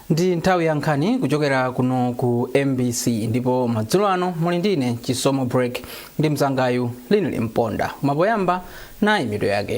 ndi nthawi ya nkhani kuchokera kuno ku mbc ndipo madzulo ano muli ndine chisomo break ndi mzangayu linili mponda ma poyamba nayi mitu yake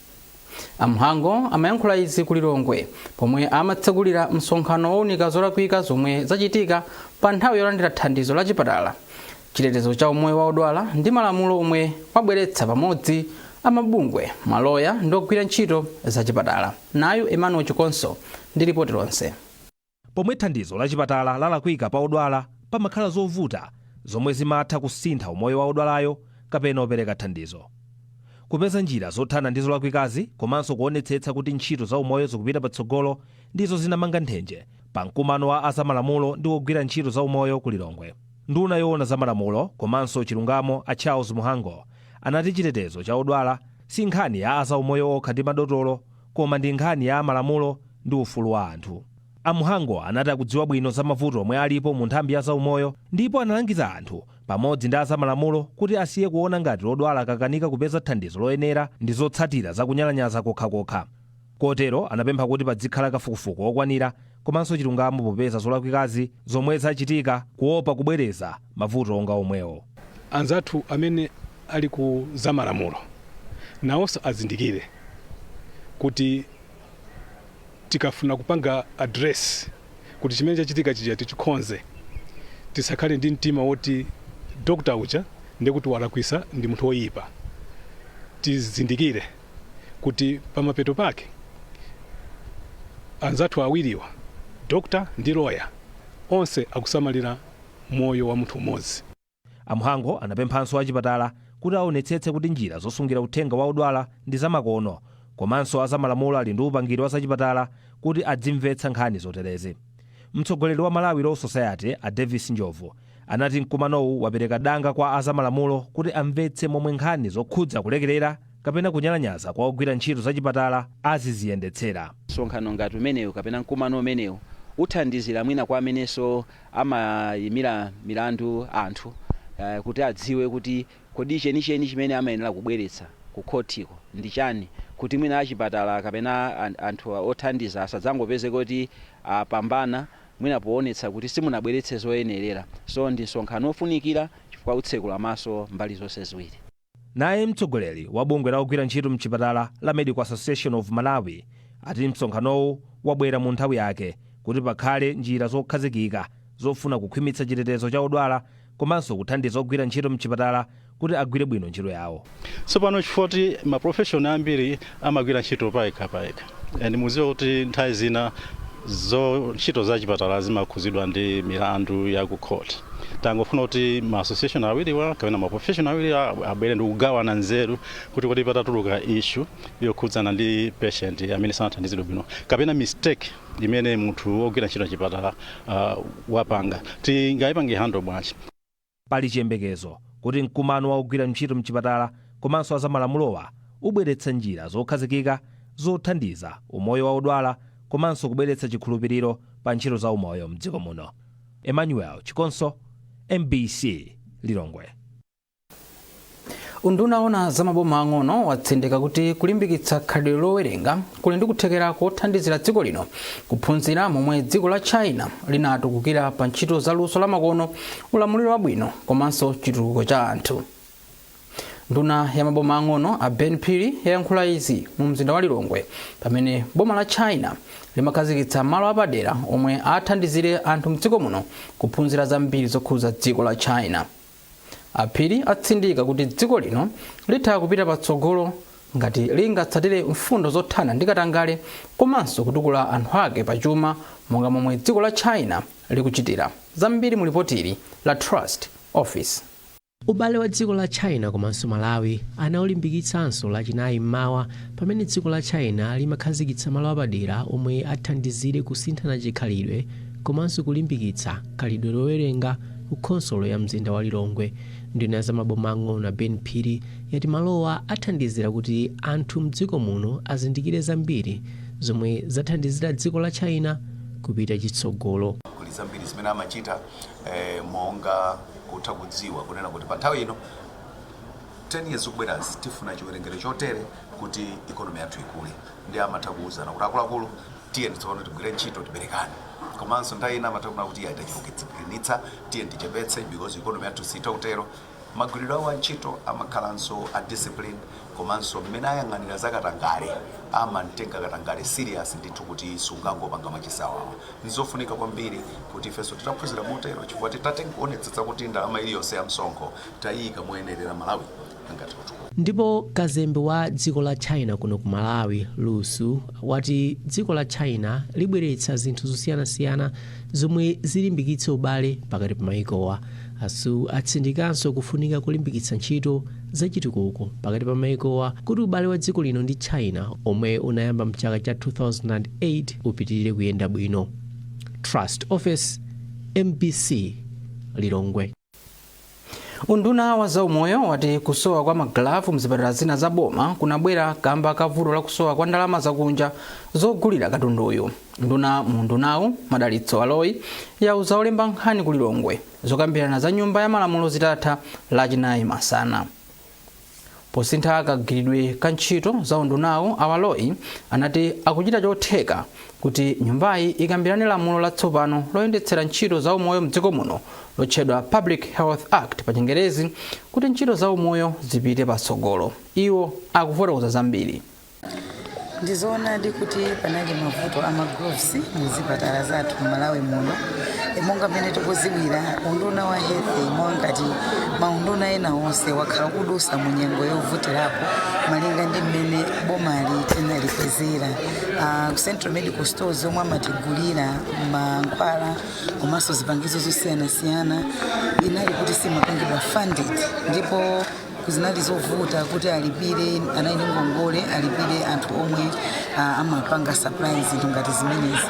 A Mhango amayankhula izi ku Lilongwe pomwe amatsekulira msonkhano wounika zolakwika zomwe zachitika pa nthawi yolandira thandizo la chipatala, chitetezo cha umoyo wa odwala ndi malamulo omwe wabweretsa pamodzi a mabungwe, maloya ndi ogwira ntchito zachipatala. Nayu Emmanuel Chikonso ndi lipoti lonse. Pomwe thandizo lachipatala lalakwika pa odwala, pamakhala zovuta zomwe zimatha kusintha umoyo wa odwalayo kapena opereka thandizo. Kupeza njira zothana ndi zolakwikazi komanso kuonetsetsa kuti ntchito za umoyo zikupita patsogolo ndizo zinamanga nthenje pa mkumano wa a zamalamulo ndi ogwira ntchito za umoyo ku Lilongwe. Nduna yoona za malamulo komanso chilungamo a Charles Mhango anati chitetezo cha odwala si nkhani ya a zaumoyo okha ndi madotolo koma ndi nkhani ya malamulo ndi ufulu wa anthu. A Mhango anati akudziwa bwino za mavuto omwe alipo mu nthambi ya zaumoyo ndipo analangiza anthu pamodzi ndi azamalamulo kuti asiye kuona ngati odwala akakanika kupeza thandizo loyenera ndi zotsatira za kunyalanyaza kokhakokha kotero anapempha kuti padzikhala kafukufuku okwanira komanso chilungamo popeza zolakwikazi zomwe zachitika kuopa kubwereza mavuto onga omwewo. anzathu amene ali ku zamalamulo nawonso azindikire kuti tikafuna kupanga address kuti chimene chachitika chija tichikonze tisakhale ndi mtima woti dokta uja ndiye kuti walakwisa ndi munthu woyipa tizindikire kuti pamapeto pake anzathu awiriwa, dokta ndi lawyer, onse akusamalira moyo wa munthu umodzi. A Mhango anapemphanso achipatala kuti awonetsetse kuti njira zosungira uthenga wa odwala ndi zamakono komanso azamalamulo ali ndi upangiri wa zachipatala kuti adzimvetsa nkhani zoterezi. Mtsogoleri wa Malawi Law Society, a Davis Njobvu, anati mkumanowu wapereka danga kwa a zamalamulo kuti amvetse momwe nkhani zokhudza kulekerera kapena kunyalanyaza kwa ogwira ntchito za chipatala aziziyendetsera. Msonkhano ngati umenewu kapena mkumano umenewu uthandizira mwina kwa amenenso amayimira milandu anthu kuti adziwe kuti Kodi chenicheni chimene amayenera kubweretsa ku khothiko ndi chani kuti mwina achipatala kapena anthu othandiza asadzangopezeke kuti apambana mwina poonetsa kuti simunabweretse zoyenerera. So ndi msonkhano ofunikira chifukwa utsekula maso mbali zonse ziwiri. Naye mtsogoleri wa bungwe la ogwira ntchito mchipatala la Medical Association of Malawi ati msonkhanowu wabwera mu nthawi yake kuti pakhale njira zokhazikika zofuna kukhwimitsa chitetezo cha odwala komanso kuthandiza ogwira ntchito m'chipatala kuti agwire bwino ntchito yawo. Tsopano chifukwa choti ma profession ambiri amagwira ntchito payekha payekha and mukudziwa kuti nthawi zina zo ntchito za chipatala zimakhudzidwa ndi milandu ya ku court, tangofuna kuti ma association awiriwa kapena ma profession awiriwa abwere ndi kugawana nzeru kuti kodi patatuluka issue yokhudzana ndi patient amene sanathandizidwe bwino kapena mistake imene munthu wogwira ntchito mchipatala uh, wapanga tingaipange handle bwanji pali chiyembekezo kuti mkumano wa ogwira ntchito mchipatala komanso azamalamulowa ubweretsa njira zokhazikika zothandiza umoyo wa odwala komanso kubweretsa chikhulupiriro pa ntchito za umoyo mdziko muno emmanuel chikonso mbc lilongwe Unduna woona za maboma ang'ono watsindika kuti kulimbikitsa khalidwe lowerenga kuli ndi kuthekera kothandizira dziko lino kuphunzira momwe dziko la China linatukukira pa ntchito za luso lamakono, ulamuliro wabwino komanso chitukuko cha anthu. Nduna ya maboma ang'ono a Ben Phiri yayankhula izi mu mzinda wa Lilongwe pamene boma la China limakhazikitsa malo apadera omwe athandizire anthu mdziko muno kuphunzira zambiri zokhudza dziko la China. A Phiri atsindika kuti dziko lino litha kupita patsogolo ngati lingatsatire mfundo zothana ndi katangale komanso kutukula anthu ake pa chuma monga momwe dziko la China likuchitira. Zambiri mu lipotili la Trust Office. Ubale wa dziko la China komanso Malawi anaulimbikitsanso lachinayi m'mawa pamene dziko la China limakhazikitsa malo apadera omwe athandizire kusinthana chikhalidwe komanso kulimbikitsa khalidwe lowerenga, ku khonsolo ya mzinda wa Lilongwe. Nduna ya za maboma ang'ono a Ben Phiri yati malowa athandizira kuti anthu mdziko muno azindikire zambiri zomwe zathandizira dziko la China kupita chitsogolo. kuli zambiri zimene amachita eh, monga kutha kudziwa kunena kuti pa nthawi ino 10 years zikubwerazi tifuna chiwerengero chotere kuti ikonomi yathu ikule ndi amatha kuwuzana kuti akuluakulu tiyeni tsono tigwire ntchito tiberekane komanso nthawi ina amatha kunena kuti iye aitachipukitsa tiyeni tichepetse because economy yathu sitha kutero magwiridwe awo a ntchito amakhalanso a discipline komanso mmene ayang'anira za katangale amamutenga katangale serious ndithu kuti sungangopanga machisawawa nzofunika kwambiri kuti ifenso titaphunzira motero chifukwa titati tionetsetse kuti ndalama iliyonse ya msonkho tayiyika moyenerera malawi Ndipo kazembe wa dziko la China kuno ku Malawi, Lu Xu, wati dziko la China libweretsa zinthu zosiyanasiyana zomwe zilimbikitse ubale pakati pa mayikowa. A Xu atsindikanso kufunika kolimbikitsa ntchito za chitukuko pakati pa mayikowa kuti ubale wa dziko lino ndi China omwe unayamba mchaka cha 2008 upitilire kuyenda bwino. Trust Office, mbc, Lilongwe. unduna wa zaumoyo wati kusowa kwa magalavu mzipatala zina za boma kunabwera kamba ka vuto la kusowa kwa ndalama zakunja zogulira katunduyu nduna mu undunawu madalitso aloyi yauza olemba nkhani ku lilongwe zokambirana za nyumba ya malamulo zitatha lachinayi masana Posintha kagwiridwe ka ntchito za undunawu, a Aloyi anati akuchita chotheka kuti nyumbayi ikambirane lamulo latsopano loyendetsera ntchito za umoyo mdziko muno lotchedwa Public Health Act pachingerezi kuti ntchito za umoyo zipite patsogolo. Iwo akufotokoza zambiri. Ndizoonadi kuti panali mavuto a ma gloves muzipatala zathu mmalawi muno monga mmene tikuziwira unduna wa health mwangati maunduna ena onse wakhala kudusa mu nyengo yovutirapo malinga ndi mmene bomali tinalipezera uh, central medical stores omwe amatigulira mankhwala komanso zipangizo zosiyanasiyana inali kuti simapangidwa funded ndipo zinali zovuta kuti alipire anali ndi ngongole alipire anthu omwe ah, amapanga supplies ngati zimenezi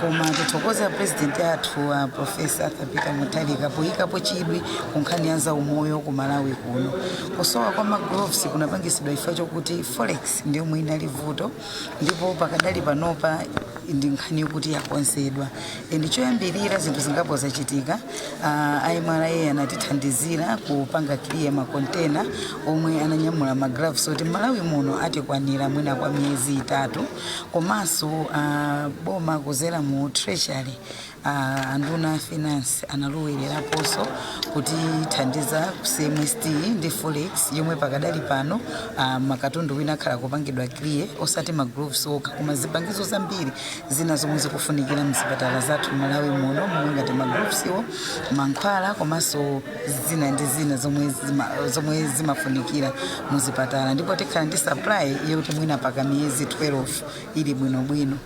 koma tithokoza president athu a profesa arthur peter mutharika poyikapo chidwi ku nkhani ya zaumoyo ku malawi kuno kusowa kwa magloves kunapangisidwa chifukwa chokuti forex ndi yomwe inali vuto ndipo pakadali panopa ndi nkhani yokuti yakonzedwa and choyambirira zinthu zingapo zachitika uh, a MRA anatithandizira kupanga clear makontena omwe ananyamula magloves oti malawi muno atikwanira mwina kwa miyezi itatu komanso uh, boma kuzera mu treasury A nduna ya finance analowelerapoonso kutithandiza ku CMST ndi Forex yomwe pakadali pano ah, makatundu wina akhala kupangidwa clear osati ma gloves okha koma zipangizo zambiri zina zomwe zikufunikira mzipatala zathu Malawi muno momwe ngati ma gloves wo mankhwala komanso zina ndi zina zomwe zima, zomwe zimafunikira muzipatala ndipo tikhala ndi supply yoti mwina paka miyezi 12 ili bwinobwino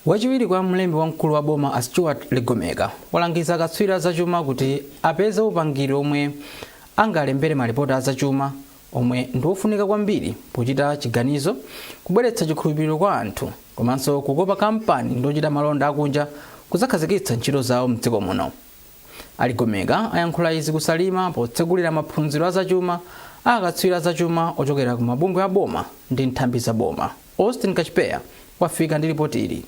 Wachiwiri kwa mlembi wamkulu wa boma a Stuart Ligomeka walangiza akatswiri a zachuma kuti apeze upangiri omwe angalembere malipoti a zachuma omwe ndi wofunika kwambiri pochita chiganizo, kubweretsa chikhulupiriro kwa anthu komanso kukopa kampani ndi ochita malonda akunja kudzakhazikitsa ntchito zawo m'dziko muno. A Ligomeka ayankhula izi ku Salima potsegulira maphunziro a zachuma a akatswiri a zachuma ochokera ku mabungwe a boma ndi nthambi za boma. Austin Kachipeya wafika ndi lipoti ili.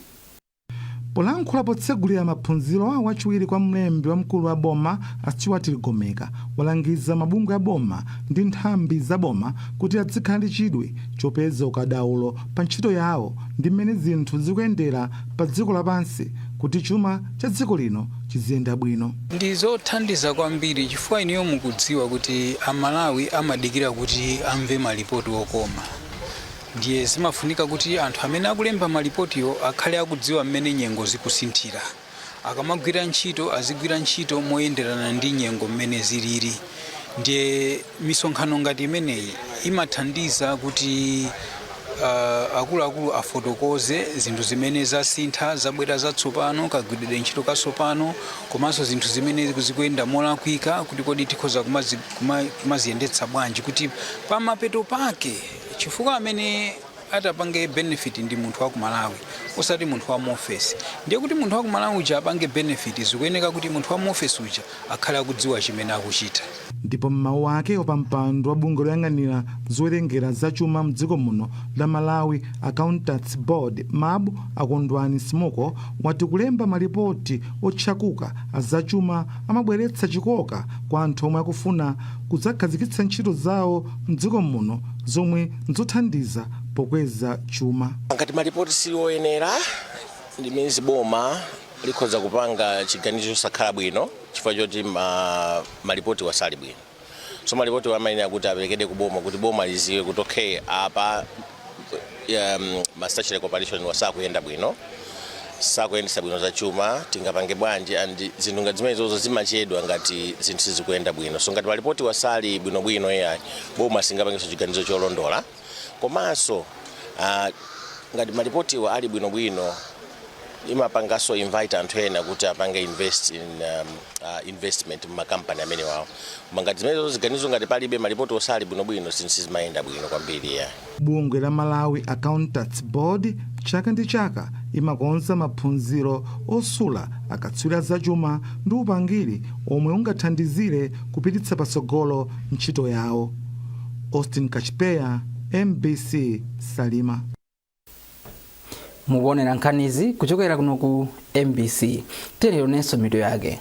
Polankhula potsegulira maphunzirowa wachiwiri kwa mlembi wamkulu wa boma a Stuart Ligomeka walangiza mabungwe a boma ndi nthambi za boma kuti adzikhala ndi chidwi chopeza ukadaulo pa ntchito yawo ndi mmene zinthu zikuyendera pa dziko lapansi kuti chuma cha dziko lino chiziyenda bwino. Ndi zothandiza kwambiri chifukwa inuyo mukudziwa kuti a Malawi amadikira kuti amve ma lipoti okoma ndiye zimafunika kuti anthu amene akulemba ma lipotiwo akhale akudziwa mmene nyengo zikusinthira. Akamagwira ntchito azigwira ntchito moyenderana ndi nyengo mmene ziliri. ndiye misonkhano ngati imeneyi imathandiza kuti uh, akuluakulu afotokoze zinthu zimene zasintha zabwera zatsopano kagwiridwe ntchito katsopano komanso zinthu zimene zikuyenda molakwika kuti kodi tikhoza kumazi- kuma- kumaziyendetsa bwanji kuti pamapeto pake chifukwa amene atapange benefit ndi munthu wa ku malawi osati munthu wa muofesi ndiye kuti munthu wa ku malawi uja apange benefit zikuyeneka kuti munthu wa muofesi uja akhale akudziwa chimene akuchita ndipo m'mawu ake wapampando wa bungwe loyang'anira zowerengera za chuma mdziko muno la malawi accountants board mab a kondwani msimuko wati kulemba malipoti otchakuka azachuma amabweretsa chikoka kwa anthu omwe akufuna kudzakhazikitsa ntchito zawo mdziko muno zomwe n'zothandiza pokweza chuma. Ngati malipoti sali oyenera, it means boma likhoza kupanga chiganizo chosakhala bwino chifukwa choti ma, malipotiwa sali bwino. So malipotiwa amayenera kuti aperekedwe ku boma kuti boma liziwe kuti okay, apa um, ma statutory corporation wa sakuyenda bwino. sakuyendesa bwino za chuma tingapange bwanji and zinthu ngati zimenezozo zimachedwa ngati zinthu sizikuyenda bwino so ngati malipotiwa sali bwinobwino ayi boma singapangeso chiganizo cholondola komanso uh, ngati malipotiwa ali bwinobwino imapangaso invite anthu ena kuti apange invest in um, uh, investment mumakampani amenewawo koma ngati zimenezo ziganizo ngati palibe malipoti osali bwinobwino zinthu sizimayenda bwino kwambiri ya Bungwe la Malawi Accountants Board chaka ndi chaka imakonza maphunziro osula akatswiri a zachuma ndi upangiri omwe ungathandizire kupititsa patsogolo ntchito yawo. Austin Kachipeya, mbc, Salima. Mukuonera nkhanizi kuchokera kuno ku mbc. Tiyeni tionenso mitu yake.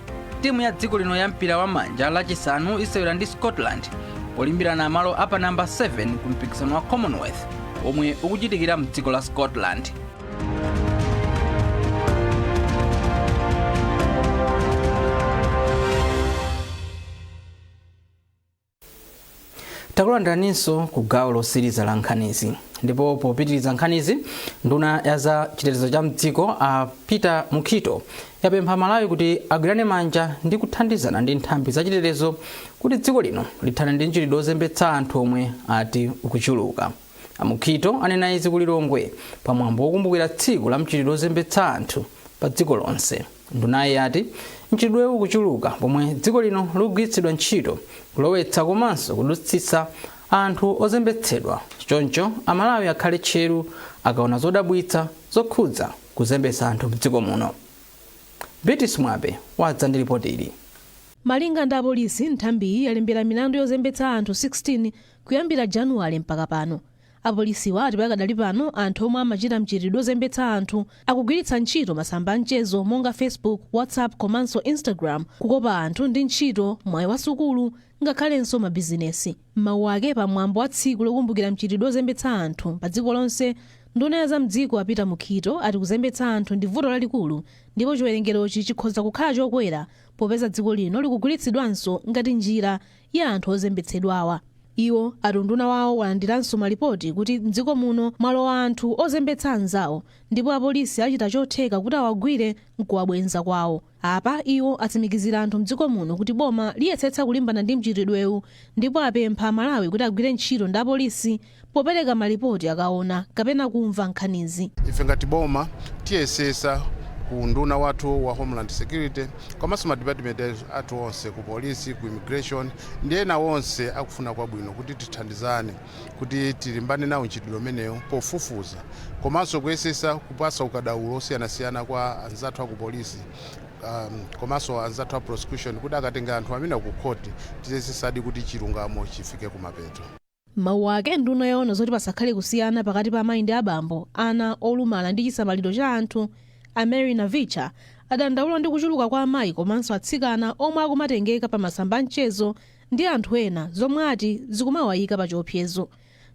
timu ya dziko lino ya mpira wa manja lachisanu isewera ndi scotland polimbirana malo apa namba 7 ku mpikisano wa commonwealth omwe ukuchitikira mdziko la scotland takulandiraninso ku gawo losiriza la nkhanizi ndipo popitiriza nkhanizi nduna ya za chitetezo cha mdziko a peter mukhito yapempha amalawi kuti agwirane manja ndi kuthandizana ndi nthambi za chitetezo kuti dziko lino lithane ndi mchitidwe ozembetsa anthu omwe ati ukuchuluka a mukhito anena izi ku lilongwe pa mwambo wokumbukira tsiku la mchitidwe ozembetsa anthu pa dziko lonse Ndunayi yati mchitidwewu ukuchuluka pomwe dziko lino likugwiritsidwa ntchito kulowetsa komanso kudutsitsa anthu ozembetsedwa choncho Amalawi akhale tcheru akaona zodabwitsa zokhudza kuzembetsa anthu mdziko muno. Beatrice Mwape wadza ndi lipoti ili. Malinga ndi apolisi, nthambiyi yalembera milandu yozembetsa anthu 16 kuyambira Januwale mpaka pano. Apolisiwa ati pakadali pano anthu omwe amachita mchitidwe ozembetsa anthu akugwiritsa ntchito masamba a mchezo monga Facebook, WhatsApp komanso Instagram kukopa anthu ndi ntchito, mwayi wa sukulu ngakhalenso mabizinesi. M'mawu ake pa mwambo wa tsiku lokumbukira mchitidwe ozembetsa anthu pa dziko lonse, nduna ya za mdziko a Peter Mukhito ati kuzembetsa anthu ndi vuto lalikulu ndipo chiwerengerochi chikhoza kukhala chokwera popeza dziko lino likugwiritsidwanso ngati njira ya anthu ozembetsedwawa. Iwo ati unduna wawo walandiranso malipoti kuti m'dziko muno mwalowa anthu ozembetsa anzawo ndipo apolisi achita chotheka kuti awagwire n'kuwabwenza kwawo. Apa iwo atsimikizira anthu m'dziko muno kuti boma liyesetsa kulimbana ndi mchitidwewu ndipo apempha Amalawi kuti agwire ntchito ndi apolisi popereka malipoti akaona kapena kumva nkhanizi. ife ngati boma tiyesesa ku unduna wathu wa homeland security komanso madipatimenti athu onse ku polisi ku immigration ndi ena onse akufuna kwabwino kuti tithandizane kuti tilimbane nawo mchitidwe umenewu pofufuza komanso kuyesesa kupasa ukadaulo osiyanasiyana kwa anzathu aku polisi um, komanso anzathu a prosecution kuti akatenga anthu amenewa kukhoti tiyesesadi kuti chilungamo chifike kumapeto M'mawu ake, nduna yoona zoti pasakhale kusiyana pakati pa amayi ndi abambo, ana, olumala ndi chisamaliro cha anthu, a Mary Navicha, adandaula ndi kuchuluka kwa amayi komanso atsikana omwe akumatengeka pa masamba a mchezo ndi anthu ena zomwe ati zikumawayika pa chiopsezo.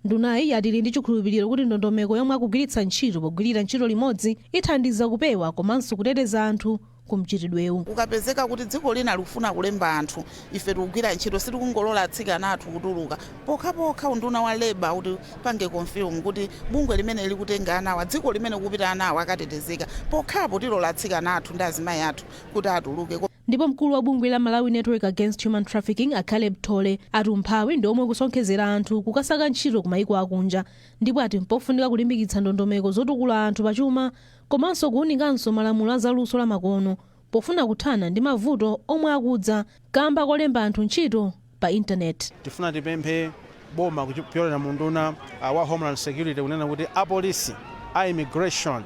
Ndunayi yati ili ndi chikhulupiliro kuti ndondomeko yomwe akugwiritsa ntchito pogwirira ntchito limodzi ithandiza kupewa komanso kuteteza anthu ku mchitidwewu. Kukapezeka kuti dziko lina likufuna kulemba anthu, ife tikugwira ntchito, sitikungolola atsikana athu kutuluka pokhapokha unduna wa labour utipange confirm kuti bungwe limene likutenga anawa, dziko limene kukupita anawa akatetezeka, pokhapo tilola atsikana athu ndi azimayi athu kuti atuluke. Ndipo mkulu wa bungwe la Malawi Network Against Human Trafficking a Caleb Thole ati umphawi ndi omwe ukusonkhezera anthu kukasaka ntchito kumaiko akunja ndipo ati mpofunika kulimbikitsa ndondomeko zotukula anthu pachuma komanso kuunikanso malamulo a za luso la makono pofuna kuthana ndi mavuto omwe akudza kamba kolemba anthu ntchito pa internet. Tifuna tipemphe boma kupyolera mu unduna uh, wa Homeland Security kunena kuti apolisi a immigration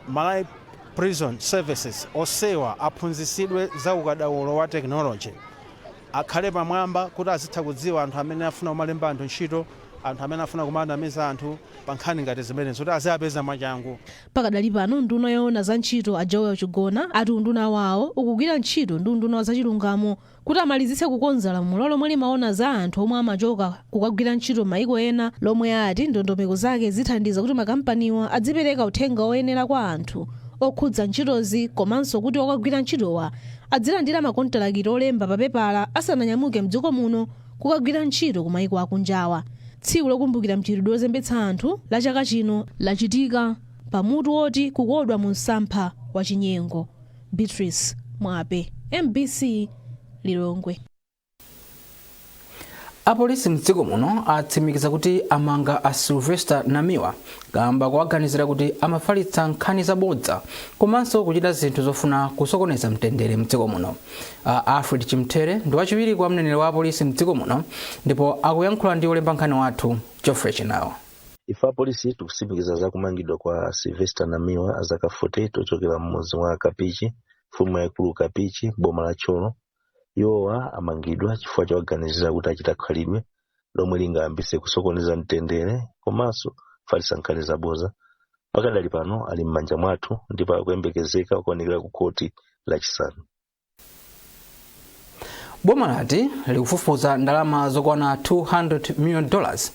Malawi prison services onsewa aphunzitsidwe za ukadaulo wa technology akhale pamwamba kuti azitha kudziwa anthu amene afuna kumalemba anthu ntchito anthu amene afuna kumanamiza anthu pa nkhani ngati zimenezi kuti aziapeza mwachangu. Pakadali pano nduna yoona za ntchito a Joel Chigona ati unduna wawo ukugwira ntchito ndi unduna wa zachilungamo kuti amalizitse kukonza lamulo lomwe limaona za anthu omwe amachoka kukagwira ntchito maiko ena lomwe ati ndondomeko zake zithandiza kuti makampaniwa adzipereka uthenga oyenera kwa anthu okhudza ntchitozi komanso kuti okagwira ntchitowa adzilandira makontalakiti olemba papepala asananyamuke mdziko muno kukagwira ntchito ku maiko akunjawa. Tsiku lokumbukira mchitidwe ozembetsa anthu la chaka chino lachitika pa mutu woti kukodwa mu msampha wa chinyengo. Beatrice Mwape, MBC Lilongwe. apolisi mdziko muno atsimikiza kuti amanga a sylvester namiwa kamba kowaganizira kuti amafalitsa nkhani zabodza komanso kuchita zinthu zofuna kusokoneza mtendere mdziko muno a alfred chimthere ndi wachiwiri kwa mneneri wa apolisi mdziko muno ndipo akuyankhula ndi olemba nkhani wathu geoffrey chinawa ife apolisi tikutsimikiza za kumangidwa kwa sylvester namiwa azaka 48 ochokera mmudzi wa kapichi mfumu yaikulu kapichi boma la thyolo iwowa amangidwa chifukwa chowaganizira kuti achita khalidwe lomwe lingayambitse kusokoneza mtendere komanso kufalitsa nkhani zaboza pakadali pano ali m'manja mwathu ndipo akuyembekezeka kukaonekera ku khoti lachisanu boma lati likufufuza ndalama zokwana 200 million dollars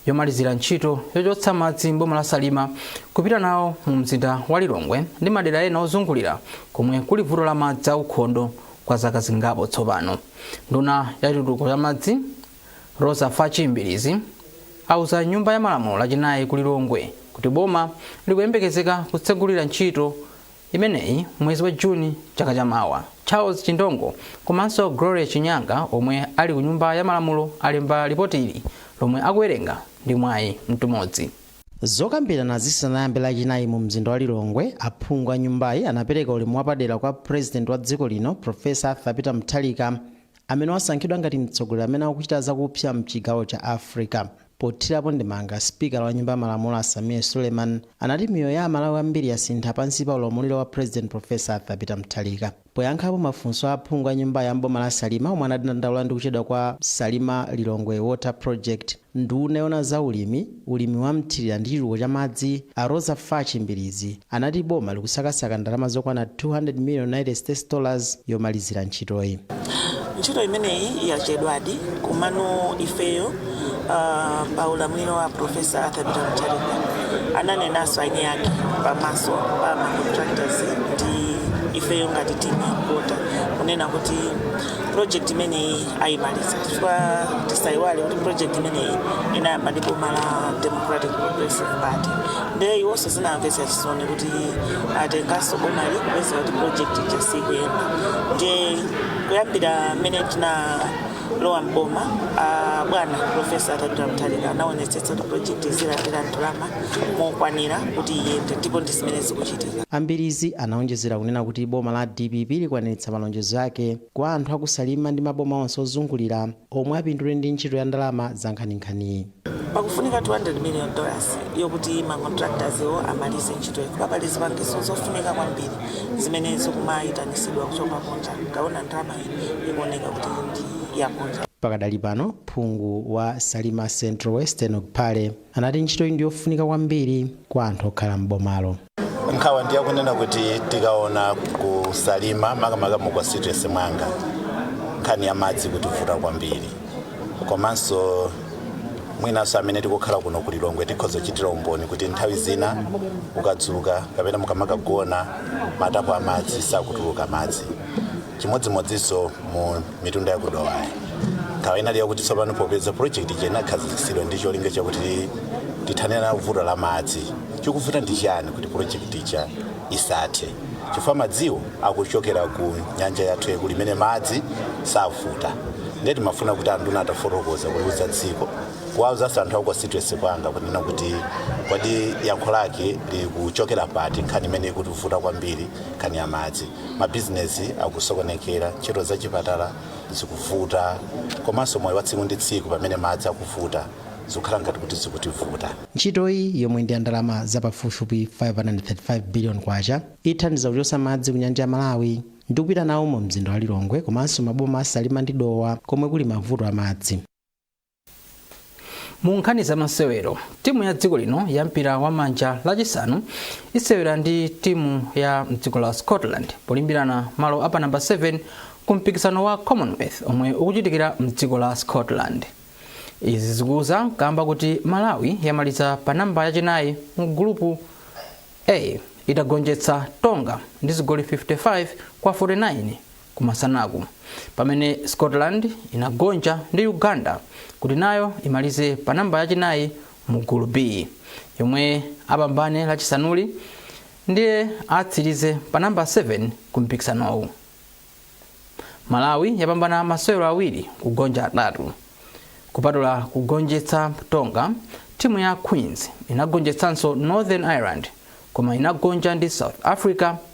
yomalizira ntchito yochotsa madzi m'boma la salima kupita nawo mu mzinda wa lilongwe ndi madera ena ozungulira komwe kuli vuto la madzi aukhondo kwa zaka zingapo tsopano nduna ya chitukuko cha madzi roza fatchi mbilizi auza nyumba ya malamulo lachinayi ku lilongwe kuti boma likuyembekezeka kutsegulira ntchito imeneyi mwezi wa juni chaka cha mawa charles chindongo komanso gloria chinyanga omwe ali ku nyumba ya malamulo alemba lipotili lomwe akuwerenga ndi mwayi mtumodzi Zokambirana zisanayambe lachinayi mu mzinda wa Lilongwe, aphungu a nyumbayi anapereka ulemu wapadera kwa President wa dziko lino Prof. Arthur Peter Mutharika amene wasankhidwa ngati mtsogoleri amene akuchita zakupsa mchigawo cha Africa. Pothirapo ndemanga, sipikala wa nyumba ya malamulo a Sameer Suleiman anati miyoyo ya a Malawi ambiri yasintha pansi pa ulamuliro wa President Prof. Arthur Peter Mutharika. Poyankhapo mafunso a aphungu a nyumbayi a m'boma la Salima omwe anadandaula ndi kuchedwa kwa Salima Lilongwe Water Project, nduna yoona za ulimi, ulimi wa mthilira ndi chitukuko cha madzi a Roza Fatchi Mbilizi anati boma likusakasaka ndalama zokwana 200 million United States Dollars yomalizira ntchitoyi. Ntchito imeneyi yachedwadi komano ifeyo uh, pa ulamuliro wa Professor Arthur Peter Mutharika ananenanso eni ake pamaso pa ma contractors ndi ifeyo ngati timu yakuota kunena kuti project imeneyi ayimaliza chifukwa tisayiwale kuti project imeneyi inayamba ndi boma la Democratic Progressive Party ndiye iwonso zinamvetsa chisoni kuti atenganso bomali kupeza kuti project ija sikuyenda ndiye kuyambira mmene tinalowa m'boma ah, bwana profesa Arthur Peter Mutharika anaonetsetsa kuti projekti zilandire ndalama mokwanira kuti iyende ndipo ndi zimene zikuchitika a Mbilizi anaonjezera kunena kuti boma la dpp likwaniritsa malonjezo ake kwa anthu aku Salima ndi maboma onse ozungulira omwe apindule ndi ntchito ya ndalama zankhaninkhaniyi. Pakufunika 200 million dollars yokuti ma contractors wo amalize ntchitoyi chifukwa pali zipangizo zofunika kwambiri zimene zikumayitanisidwa kuchoka kunja, mukaona ndalamayi ikuoneka kuti ndi yakunja. Pakadali pano, phungu wa Salima Central Western Hon. Kapale, anati ntchitoyi ndi yofunika kwambiri kwa anthu okhala m'bomalo. nkhawa ndi yakunena kuti tikaona ku Salima makamaka mu constituency mwanga nkhani ya madzi ikutivuta kwambiri komanso mwinanso amene tikukhala kuno ku lilongwe tikhoza kuchitira umboni kuti nthawi zina ukadzuka kapena mukamakagona matapu a madzi sakutuluka madzi chimodzimodzinso mu mitunda ya ku Dowayi nkhawa inali yakuti tsopano popeza project ija inakhazikitsidwa ndi cholinga chakuti tithane nalo vuto la madzi chikuvuta ndi chiyani kuti project ija isathe chifukwa madziwo akuchokera ku nyanja yathu yaikulu imene madzi savuta ndiye timafuna kuti anduna atafotokoza kuliuza dziko kuwauzaso anthu aku constituency kwanga kunena kuti kodi yankho lake likuchokera pati nkhani imene ikutivuta kwambiri nkhani ya madzi mabizinesi akusokonekera ntchito za chipatala zikuvuta komanso moyo wa tsiku ndi tsiku pamene madzi akuvuta zikukhala ngati kuti zikutivuta ntchitoyi yomwe ndi ya ndalama za pafupifupi 535 billion kwacha ithandiza kuchotsa madzi ku nyanja ya malawi ndi kupita nawo mu mzinda wa lilongwe komanso maboma a salima ndi dowa komwe kuli mavuto a madzi mu nkhani za masewero timu ya dziko lino ya mpira wa manja lachisanu isewera ndi timu ya mdziko la scotland polimbirana malo apa namba 7 ku mpikisano wa commonwealth omwe ukuchitikira mdziko la scotland izi zikudza kamba kuti malawi yamaliza pa namba yachinayi mu gulupu a itagonjetsa tonga ndi zigoli 55 kwa 49 Kumasanaku, pamene Scotland inagonja ndi Uganda kuti nayo imalize pa namba yachinayi mu Gulu B, yomwe apambane Lachisanuli ndiye atsirize pa namba 7 ku mpikisanowu. Malawi yapambana masewero awiri kugonja atatu. Kupatula kugonjetsa Tonga, timu ya Queens inagonjetsanso Northern Ireland koma inagonja ndi South Africa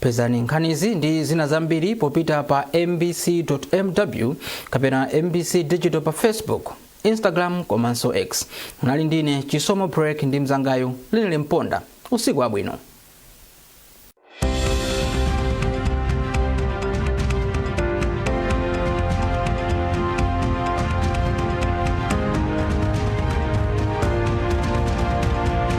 pezani nkhanizi ndi zina zambiri popita pa mbc.mw kapena mbc digital pa facebook instagram komanso x munali ndine chisomo break ndi mzangayo Linely Mponda usiku wabwino